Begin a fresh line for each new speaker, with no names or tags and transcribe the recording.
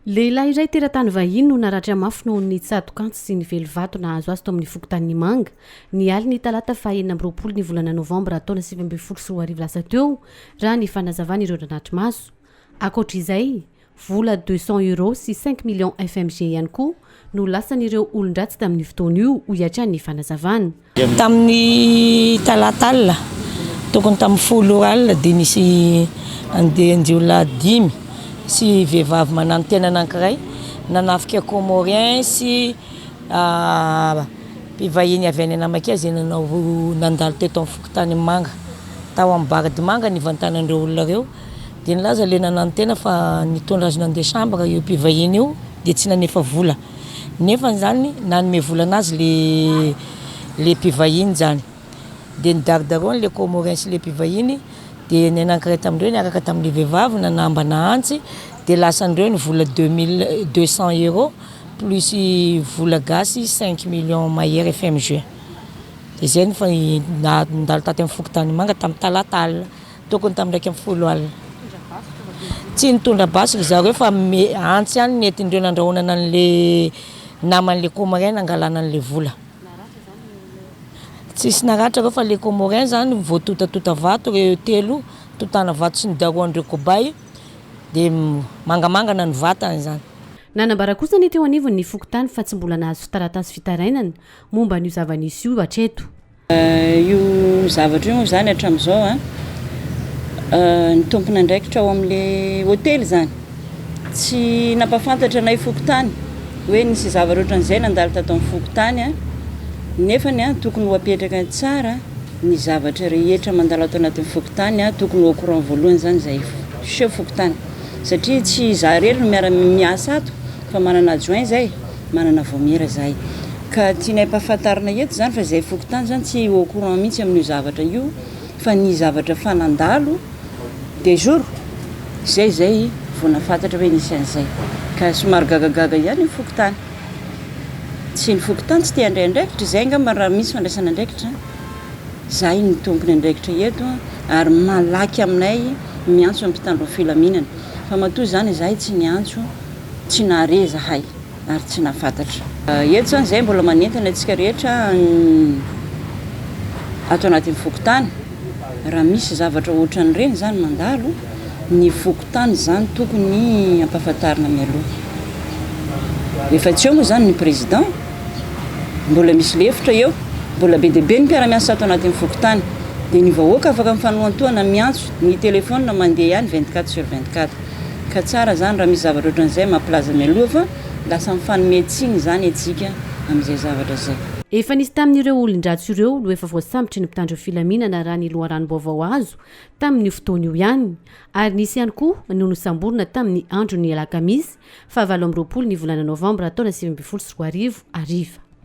Lehilahy iray teratany vahiny no naratra mafy noho ny tsatok'antsy sy ny velivato nahazo azy tao amin'ny fokontanin'Imanga, ny alin'ny talata faha enina amby roapolo ny volana novambra taona sivy ambin'ny folo sy roa arivo lasa teo, raha ny fanazavan'ireo nanatri-maso. Ankoatra izay, vola deux cents euros sy cinq millions FMG ihany koa no lasan'ireo olon-dratsy tamin'io fotoana io, hoy hatrany ny fanazavana. Tamin'ny
talata alina, tokony tamin'ny folo ora alina, dia nisy andian-jiolahy dimy sy vehivavy mananontena anankiray nanafika Comorien sy mpivahiny avy any Anamaka izay nanao nandalo teto amin'ny fokontany Manga. Tao amin'ny Bardimanga nivantanan'ireo olona ireo dia nilaza ilay nananontena fa nitondra azy nandeha chambre io mpivahiny io dia tsy nanefa vola. Nefa zany nanome vola anazy le le mpivahiny zany de nidaridarony le comorien sy le mpivahiny de ny anankiray tamindreo niaraka tamle vehivavy nanambana antsy de lasandreo ny vola deux mille deux cent euro plus vola gasy cinq millions mahery FMG de zay ny fa nandalo taty am fokotanimanga tam talata alina Tokony tamin'ny iraika amby folo alina. Tsy nitondra basy ry zareo fa antsy ihany ny entindreo nandrahonana an'le naman'le comorien nangalana an'le vola. Tsisy naratra reo fa le comorien zany voatotatota vato reo telo totana vato sy ny darohan'ireo kobay de mangamangana ny vatany zany. Nanambara kosa
ny teo anivon'ny fokontany fa tsy mbola nahazo taratasy fitarainana momba an'io zava-nisy io hatreto. Io
zavatra io moa izany hatramin'izao a, ny tompon'andraikitra ao amin'ilay hotely izany tsy nampahafantatra anay fokontany hoe nisy zavatra ohatran'izay nandalo tato amin'ny fokontany a. Nefany a, tokony ho apetraka tsara ny zavatra rehetra mandalo ato anatin'ny fokontany a, tokony ho au courant voalohany izany izahay fo- seho fokontany satria tsy izaho irery no miara-miasa ato. Fa manana adjoint zay, manana vaomiera zahay. Ka tianay ampahafantarina eto zany fa zay fokontany zany tsy au courant mihitsy amin'io zavatra io fa ny zavatra efa nandalo des jours zay zay vao nahafantatra hoe nisy an'izay. Ka somary gagagaga ihany io fokontany. Tsy ny fokontany tsy te handray andraikitra, izay angamba raha misy fandraisana andraikitra, zahay no tompony andraikitra eto ary malaky aminay miantso ny mpitandro ny filaminana. Fa matoa izany zahay tsy niantso. Tsy nahare izahay ary tsy nahafantatra. Eto izany izahay mbola manentana antsika rehetra any ato anatin'ny fokontany, raha misy zavatra ohatran'ireny izany mandalo, ny fokontany izany tokony ampahafantarina mialoha. Efa tsy eo moa izany ny président, mbola misy lefitra eo, mbola be dia be ny mpiara-miasa ato anatin'ny fokontany, dia ny vahoaka afaka mifanohantohana miantso, ny téléphone mandeha ihany vingt-quatre sur vingt-quatre. ka tsara zany raha misy zavatra ohatran'izay mampilaza mialoha fa lasa mifanome tsiny izany etsika amin'izay zavatra zay. Efa nisy tamin'ireo
olon-dratsy ireo no efa voasambotry ny mpitandro filaminana raha ny loharanom-baovao azo tamin'io fotoana io ihany ary nisy ihany koa no nosamborina tamin'ny andron'ny alakamisy fahavalo amby roapolo ny volana novambra taona sivy ambin'ny folo sy roa arivo hariva.